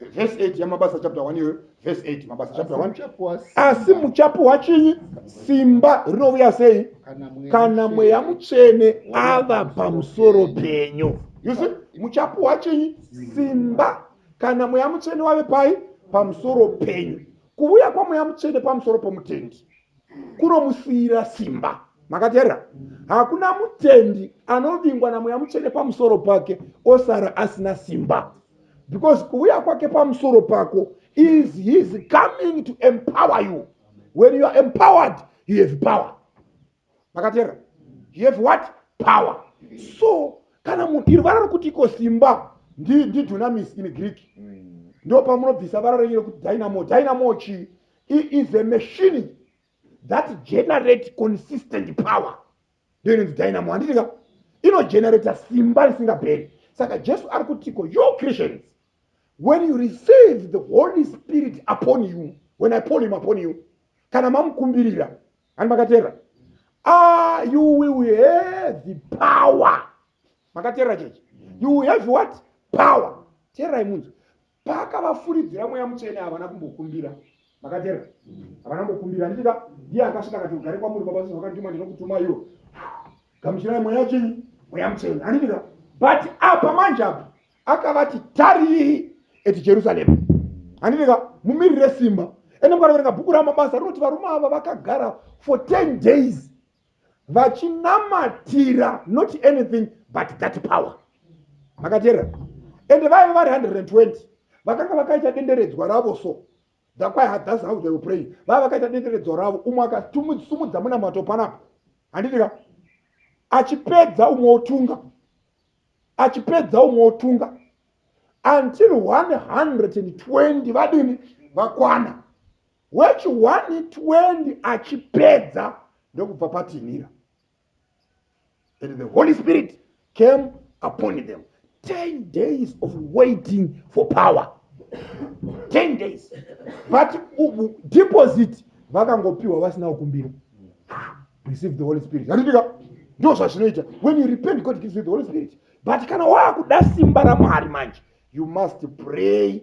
vhesi 8 yamabasa chapta 1 iyoyo vhesi 8 mabasa chapta 1 asi muchapuhwa chinyi simba rinouya sei kana mweya mutsvene ava pamusoro penyu yusi muchapuhwa chinyi simba kana mweya mutsvene wave pai pamusoro penyu kuuya kwamweya mutsvene pamusoro pomutendi kunomusiyira simba makateerera hakuna mutendi anovingwa namweya mutsvene pamusoro pake osara asina simba because kuuya kwake pamusoro pako is his coming to empower you when you are empowered you have power makateera you have what power so kana mudiri vara rokuti iko simba ndidunamis in greek mm. ndo pamunobvisa vara renyu rekuti dynamo dynamo chi is a machine that generate consistent power ndiyo inonzi dynamo handiti ka inogenerator simba risingaperi saka jesu ari kutiko you christians when you receive the holy spirit upon you when i pull him upon you kana mamukumbirira ani makateerera ah, you will have the power makateerera chechi you will have what power teererai munzwi paakavafuridzira mweya mutsvene havana kumbokumbira makatera havana kumbokumbira handitika ndiye akasvika akati ugare kwamuri baba sezvo vakandituma ndinokutuma iwo gamuchirai mweya chinyi mweya mutsvene handitika but apa manje apa akavati tarii eti jerusarema handitika mumirire simba ende mukanoverenga bhuku ramabasa rinoti varume ava vakagara for 10 days vachinamatira not anything but that power makateerera ende vaive vari 120 vakanga vakaita denderedzwa ravo so thakwaihadhasi how they were praying vaive vakaita denderedzwa ravo umwe akatumudza munamato panapo handitika achipedza umwe otunga achipedza umwe otunga until 120 vadini vakwana wechi 120 achipedza ndokubva patinhira and the holy spirit came upon them 10 days of waiting for power 10 days but deposit vakangopiwa vasina kukumbira receive the holy spirit handitika ndo zvazvinoita when you repent god gives you the holy spirit but kana waakuda simba ramwari manje you must pray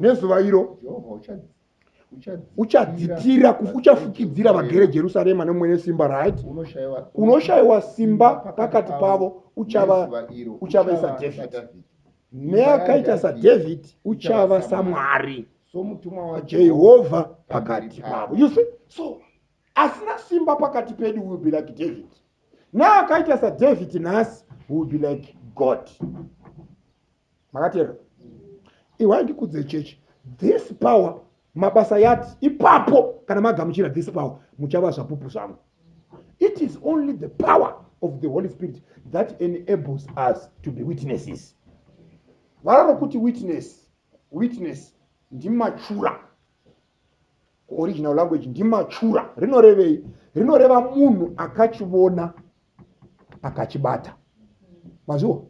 nezuva iro uchadzitira uchafukidzira vagere jerusarema nemwene simba right unoshayiwa simba pakati pavo uchavaisa david neakaita sadavid uchava samwari jehovha pakati pavo you see so asina simba pakati pedu will be like david neakaita sadavid nhasi will be like god makateera iwai ndikudze chechi this power mabasa yati ipapo kana magamuchira this power muchava zvapupu zvangu it is only the power of the holy spirit that enables us to be witnesses vara rokuti witness witness ndimachura original language ndimachura rinorevei rinoreva munhu akachivona akachibata maziwa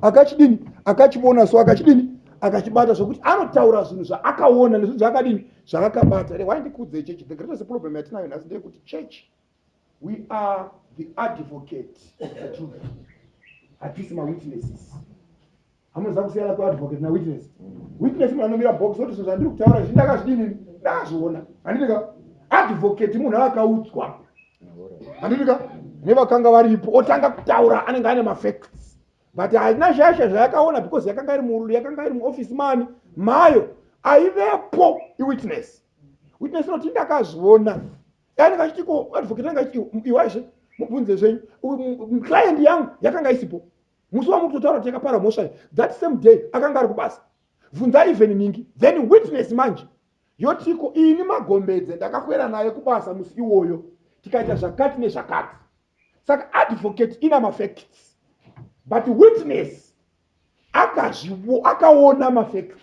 akachidini akachivona so akachidini akachibata sokuti anotaura zvinhu zvaakaona nezvinhu zvaakadini zvaakabata re why ndikuudzei chechi the greatest problem yatinayo nhasi ndeyekuti chechi we are the advocate of the truth hatisi mawitnesses hamunoziva kusiyana kweadvocate nawitness witness munhu anomira box oti zvinhu zvandiri kutaura zvi ndakazvidini ndazviona handitika advocate munhu akaudzwa handitika nevakanga varipo otanga kutaura anenge ane mafacts but haina shasha zvayakaona because yakanga iri murulu yakanga iri muoffice mani mayo aivepo iwitness witness inoti ndakazviona anenge achiti ko advocate anenge achiti iwaizve mubvunze zvenyu client yangu yakanga isipo musi wamuri kutotaura kuti yakapara mhosva iyi that same day akanga ari kubasa vhunza even ningi then witness manje yotiko ini magombedze ndakakwera naye kubasa musi iwoyo tikaita zvakati nezvakati saka advocate ina mafacts but witness akazviwo akaona mafacts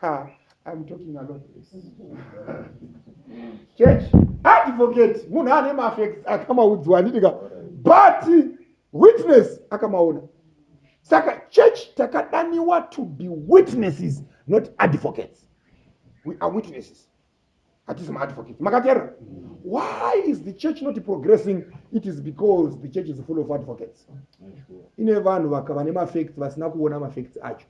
Ha, I'm talking a lot this. Church, advocate, munhu ane mafacts akamaudzwa handitika, but witness akamaona. Saka church takadaniwa to be witnesses, not advocates. We are witnesses. hatizi maadvocate makateerera why is the church not progressing it is because the church is full of advocates ine vanhu vakava nemafacts vasina kuona mafacts acho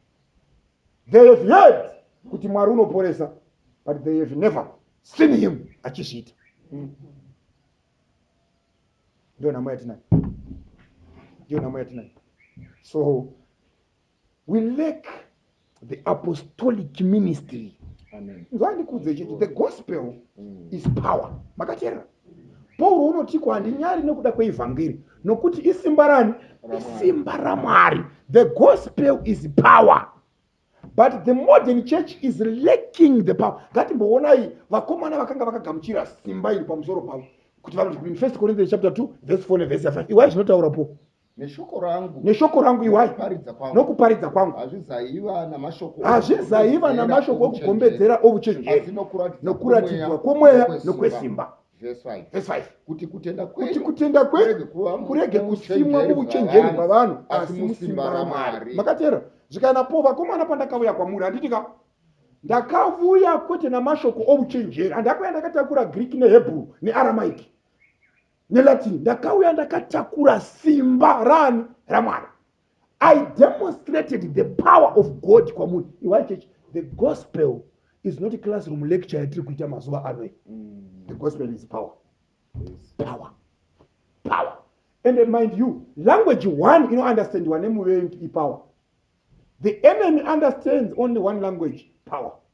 they have heard kuti mwari unoporesa but they have never seen him achizviita ndiyo nhamo yatinayo ndiyo nhamo yatinayo so we lack the apostolic ministry nzwandikuudze chiti the gospel mm. is power makateerera pauro unotiko handinyari nekuda kweevhangeri nokuti isimba rani isimba ramwari the gospel is power but the modern church is lacking the power ngatimboonai vakomana vakanga vakagamuchira simba iri pamusoro pavo kuti vanoti in first corinthians chapter 2 verse 4 neverse 5 iwai zvinotaura po neshoko rangu neshoko rangu iwai nokuparidza kwangu nokuparidza kwangu hazvizaiva namashoko hazvizaiva namashoko okugombedzera ovuchenjeri asi nokuratidza nokuratidzwa kwomweya kwomweya nokwesimba nokwesimba Verse five. Verse 5. kuti kutenda kuti kwenyu kutenda kwenyu kuva mu- kurege kusimwa muuchenjeri muuchenjeri bwavanhu, bwavanhu asi asi musimba musimba ramwari raMwari. makateerera zvikanena po vakomana pandakauya kwamuri handiti ka ndakavuya kwete namashoko ouchenjeri handako yandakatakura greek nehebrew nearamaiki nelatin ndakauya ndakatakura simba rani ramwari i demonstrated the power of god kwamuri iwai church the gospel is not classroom lecture yatiri kuita mazuva ano mm. the gospel is power yes. power power and uh, mind you language one inounderstandiwa nemuvengi ipower the enemy understands only one language power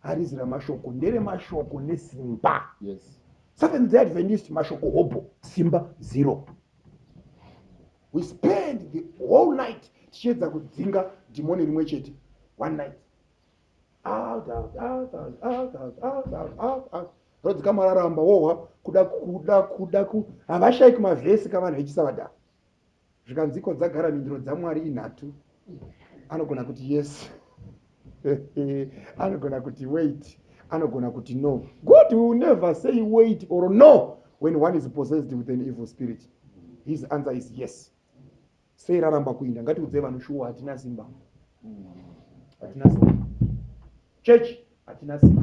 harizi ramashoko nderemashoko nesimba yes. seventh day adventist mashoko hobho simba zero we spend the whole night tichiedza kudzinga dhimoni rimwe chete one night rodzika mararamba wohwa kuda kuda kuda ku havashaiki mavhesi kavanhu vechisavadhaa zvikanziko dzagara mhinduro dzamwari inhatu anogona kuti yes anogona kuti wait anogona kuti no god will never say wait or no when one is possessed with an evil spirit his answer is yes sei raramba kuinda ngatiudze vanhu shuwa hatina simba hatina simba chechi hatina simba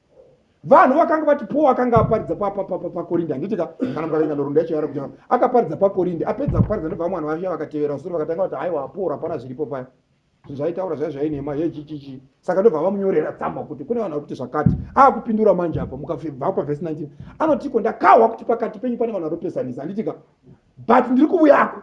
vanhu vakanga vati paul akanga aparidza pakorindi handiti ka kana mukavenga nhorunda yacho yavara kuja akaparidza pakorindi apedza kuparidza ndobva vamwe vanhu vavia vakatevera sure vakatanga kuti haiwa paul hapana zviripo paya zvinhu zvaitaura zvai zvainema hechichichi saka ndobva vamunyorera tsamba kuti kune vanhu vari kuti zvakati akupindura manje apa mukabva pavhesi 19 anotiko ndakahwa kuti pakati penyu pane vanhu vanopesanisa handiti ka but ndiri kuvuyako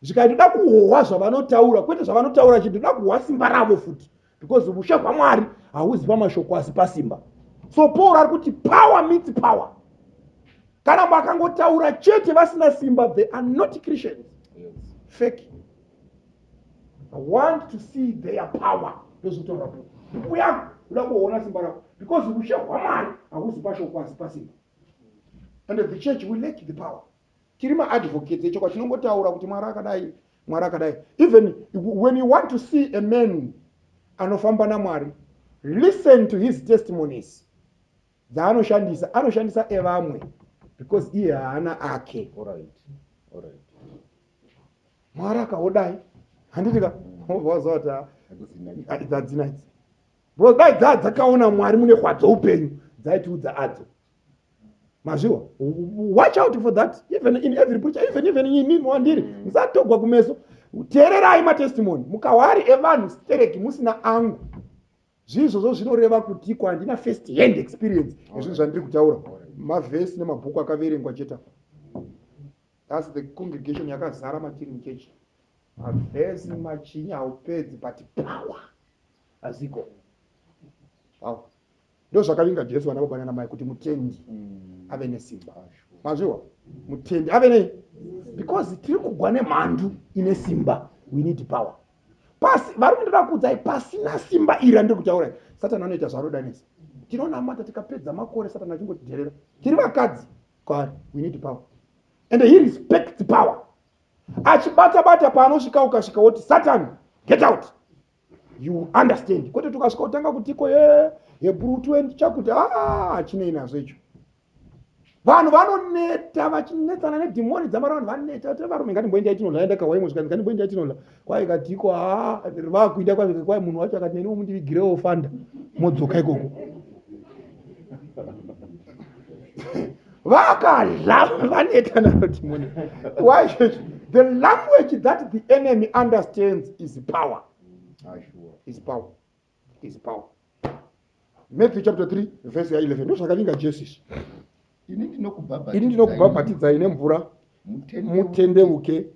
zvika ndoda kuhohwa zvavanotaura kwete zvavanotaura chete ndoda kuhohwa simba ravo futi because vushe hwamwari hauzi pamashoko asi pasimba so paul ari kuti power meets power kana vakangotaura chete vasina simba they are not christians yes. fake i want to see their power ndozvitaura po buku yangu uda kuona simba rako because vushe hwamwari hauzi pashoko asi pasimba and the church will lake the power tiri maadvocates echokwadi tinongotaura kuti mwari akadai mwari akadai even when you want to see a man anofamba namwari listen to his testimonies dzaanoshandisa anoshandisa evamwe because iye haana ake mwari akaodai handiti ka vazota dzadzinaidzi because dai dzaa dzakaona mwari mune kwadzo upenyu dzaitiudza adzo mazviwa watch out for that even in every preacher even even imi mwandiri mm. musatogwa kumeso teererai matestimony mukawari evanhu stereki musina angu zviizvozvo zvinoreva kutiko handina first hand experience ezvinhu zvandiri kutaura mavhesi nemabhuku akaverengwa chete apa thats the congregation yakazara matiri muchechi mavhesi machinya haupedzi but power aziko power ndozvakavinga jesu vana baba nana mai kuti mutendi mm. ave nesimba mazviwa mutendi ave nei because tiri kugwa nemhandu ine simba we need power pasi vari kundoda kuudzai pasina simba iri andiri kutaura satani anoita zvarodanisa tinonamata tikapedza makore satani achingotidherera tiri vakadzi kwari we need power and he respects power achibata bata paanosvika ukasvika woti satani get out you understand kwete tukasvika kutanga kutiko ye hebrew 20 chakuti aa chinei nazvo icho vanhu vanoneta vachinetsana nedhimoni dzamara vanhu vaneta vatira varume ngatimboenda itinola enda kahwa imwe zvikanzi ngatimboenda itinola kwai katiko haa vakuida kwazvike kwai munhu wacho akati neniwo mundivigirewo fanda modzoka ikoko vakadlam vaneta naro timone why the language that the enemy understands is power is power is power matthew chapter 3 verse ya 11 ndozvakavinga jesus ini ndinokubhabhatidzai nemvura mutendevuke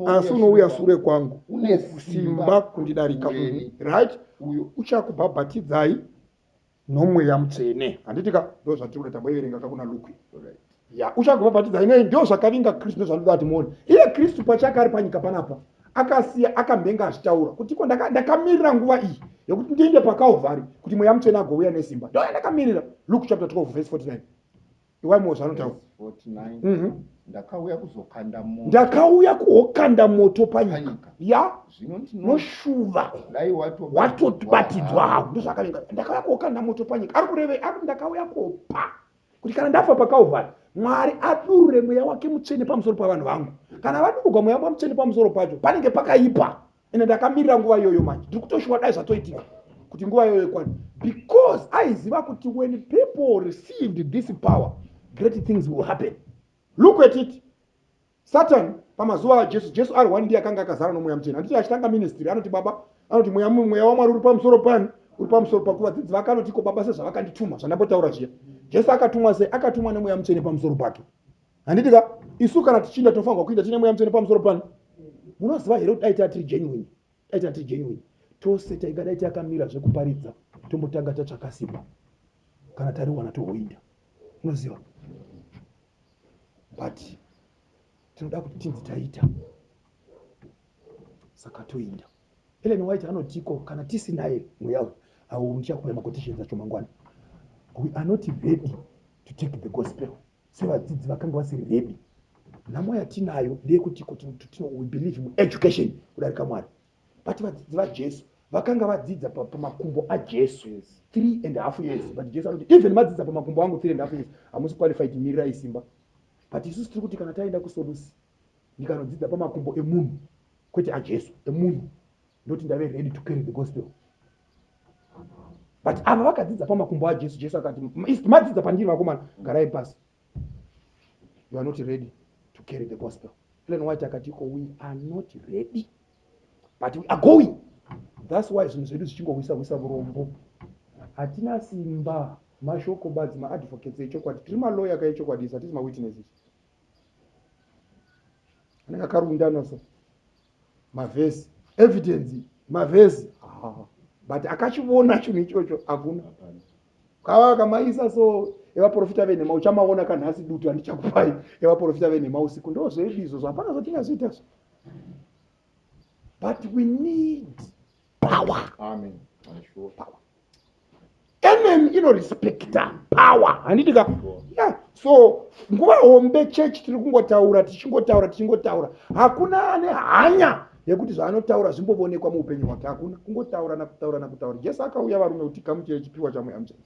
asi unouya sure kwangu une simba kundidarika uri right uyo uchakubhabhatidzai nomweya mutsvene handiti ka ndo zvatiri kuda tamboiverenga ka kuna lukwi ya uchagobhabhatidza inei ndo zvakavinga kristu ndozvanoda kuti muone iye kristu pachake ari panyika panapa akasiya akamhenga achitaura kuti iko ndakamirira nguva iyi yekuti ndiende pakalvari kuti mweya mutsvene agouya nesimba ndoya ndakamirira luke chapter 12 verse 49 iwaimo zvanotaura mhm. ndakauya kuzokanda moto ndakauya kuokanda moto panyika ya noshuva watobatidzwa hao ndozvakavinga ndakauya kuokanda moto panyika ari kureve ari ndakauya kopa kuti kana ndafa pakauvhari mwari adurure mweya wake mutsvene pamusoro pavanhu vangu kana vadururwa mweya wake mutsvene pamusoro pacho panenge pakaipa ende ndakamirira nguva iyoyo manje ndiri kutoshuwa dai zvatoitika kuti nguva iyoyo kwani because aiziva kuti when people received this power great things will happen look at it satan pamazuva ajesu jesu ari one ndiye akanga akazara nomweya muchena anditi achitanga ministry anoti baba anoti mweya mweya wamwari uri pamusoro pani uri pamusoro pakuva dzidzi vake anotiko baba sezvavakandituma zvandambotaura zviya jesu akatumwa sei akatumwa nemweya muchene pamusoro pake handiti ka isu kana tichinda tofanirwa kuinda tine mweya mutsvene pamusoro pano munoziva here kuti aita tiri genuine aita tiri genuine tose taingadai takamira zvekuparidza tombotanga tatsvaka simba kana tariwana tohoinda unoziva but tinoda kuti tinzi taita saka toinda elen white anotiko kana tisinaye mweya uyu awo muchakuya makotishenza chomangwana we are not ready to take the gospel sevadzidzi vakanga vasiri redi nhamo yatinayo ndeyekuti kuti tino we believe mueducation kudarika mwari but vadzidzi vajesu vakanga vadzidza pamakumbo ajesu three and half years but jesu anoti even madzidza pamakumbo angu three and half years hamusi qualified mirirai simba but isusu tiri kuti kana taenda kusolusi ndikanodzidza pamakumbo emunhu kwete ajesu emunhu ndoti ndave ready to carry the gospel but ava vakadzidza pamakumbo ajesu jesu akati madzidza pandiri vakomana garai pasi you are not ready to carry the gospel plan white akati ko we are not ready but we are going thats why zvinhu zvedu zvichingohwisa hwisa vurombo hatina simba mashoko badzi maadvocates echokwadi tiri maloya kaechokwadi hatisi mawitnesses anenge akarundana so mavhesi evidence mavhesi but akachivona chinhu ichocho hakuna kava akamaisa so evaprofita venhema uchamaona kanhasi dutu handichakupai evaprofita venhema usiku ndozvedu izvozvo hapana zvatingazoita zvo but we need power, Amen. Power. mn inorespecta power handiti ka yeah. so nguva hombe church tiri kungotaura tichingotaura tichingotaura hakuna ane hanya yekuti zvaanotaura zvimbovonekwa muupenyu hwake hakuna kungotaura nakutaura nakutaura jesu akauya varume kuti kamuchire chipiwa chamweya muchene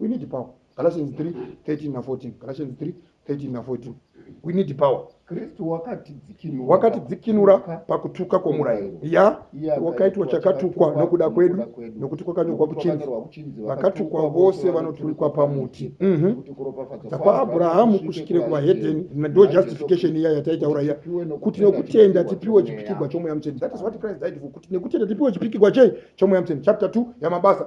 we need power Galatians 3 13 na 14 Galatians 3 13 na 14 we need power kristu wakatidzikinura wakatidzikinura pakutuka kwomurayiro ya wakaitwa chakatukwa nokuda kwedu nokuti kwakanyorwa kuchinzi vakatukwa vose vanoturikwa pamuti mhm. dzakwaabhurahamu kusvikire kuvahedheni ndo justification iya yataitaura iya kuti nekutenda tipiwe chipikigwa chomweya mutsveni that is what christ died for kuti nekutenda tipiwe chipikigwa chei chomweya mutsveni chapter 2 yamabasa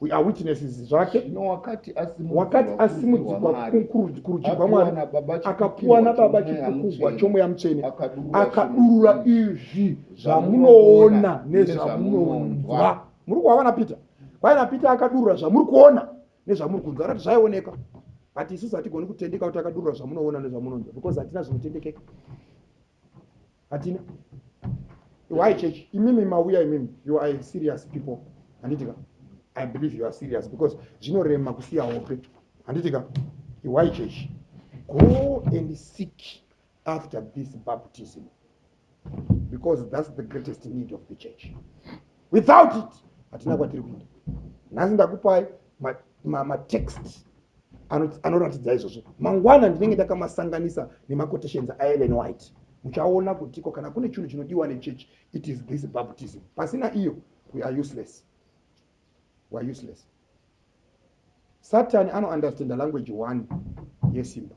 We are witnesses zvake no, wakati asimudzikwa kurudyi rwamwari akapuwa nababa chipukugwa chomweya mutsvene akadurura izvi zvamunoona nezvamunonzwa muri kuhava napeter kwai napeter akadurura zvamuri kuona nezvamuri kunzwa rati zvaioneka but isusu hatigoni kutendeka kuti akadurura zvamunoona nezvamunonzwa because hatina zvinotendekeka hatina why church imimi mauya imimi you are serious people handitika i believe you are serious because zvinorema kusiya hope handitika why church go and seek after this baptism because that's the greatest need of the church without it hatina kwatiri kuenda nhasi ndakupai matext ma, ma anoratidza izvozvo mangwana ndinenge ndakamasanganisa nemaquotations aellen white muchaona kutiko kana kune chinhu chinodiwa nechechi it is this baptism pasina iyo we are useless we are useless satani anounderstanda language one yesimba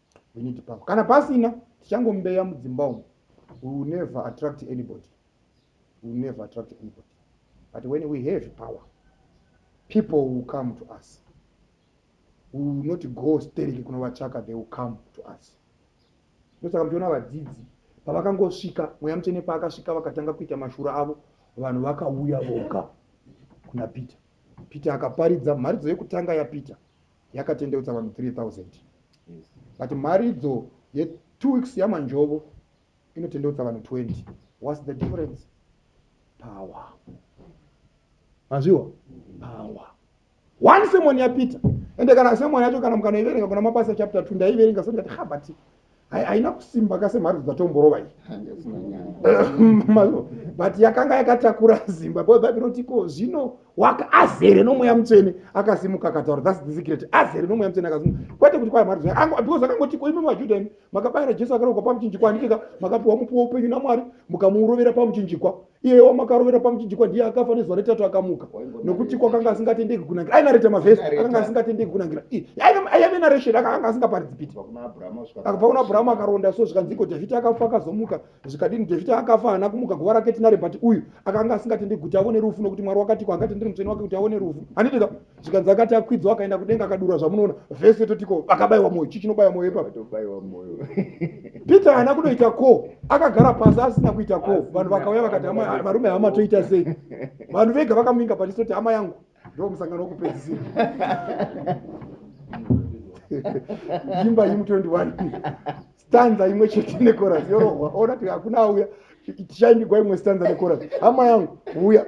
we need power kana pasina tichangomubeya mudzimba umu we will never attract anybody we will never attract anybody but when we have power people will come to us we will not go stereki kunovachaka they will come to us ndosaka muchiona vadzidzi pavakangosvika mweya mutsvene paakasvika vakatanga kuita mashura avo vanhu vakauya voga kuna peter peter akaparidza mharidzo yekutanga yapeter yakatendeutsa vanhu 3000 but mharidzo ye two weeks yamanjovo inotendeutsa vanhu 20 whats the difference power mazviwa power one semoni yapita ende kana semoni yacho kana mukanoiverenga kuna mabasa chapter two ndaiverenga so ndikati ha but haina kusimba ka semharidzo dzatomborova iyi but yakanga yakatakura zimba bcause bhaibheri roti ko zvino waka azere nomweya mutsvene akasimuka akataura thats the secret azere nomweya mutsvene akasimuka kwete kuti kwaya mharidzo because akangoti ko imimi vajuda imi makabayira jesu akarokwa pamuchinjikwa andikeka makapiwa mupiwa upenyu namwari mukamuurovera pamuchinjikwa iye wamakarovera pamuchinjikwa ndiye akafa nezuva retatu akamuka nokuti kwakanga asingatendeki kunangira ainareta mavhesi akanga asingatendeki kunangira aive naresheni akanga asingaparidzi piti akabva kuna abhurahamu akaronda so zvikanziko dhavhidhi akafa akazomuka zvikadini dhavhidhi akafa haana kumuka guva rake tinare but uyu akanga asingatendeki kuti avone rufu nokuti mwari wakatiko angatendere mutsveni wake kuti avone rufu handidika zvikanzi akati akwidzwa akaenda kudenga akadura zvamunoona vese totiko akabaiwa moyo chii chinobaya moyo ipapatobaiwa moyo peter haana kunoita ko akagara pasi asina kuita ko vanhu vakauya vakati varume hama toita sei vanhu vega vakamuinga patisoti hama yangu ndo musangano wokupedzisira imba yimu 21 stanza imwe chete necoras yorohwa ona ti hakuna auya tichaimbigwa imwe stanza necoras hama yangu uya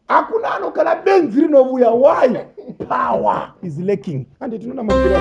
hakuna ano kana benzi rinovuya why power is lacking ande tinoona mavira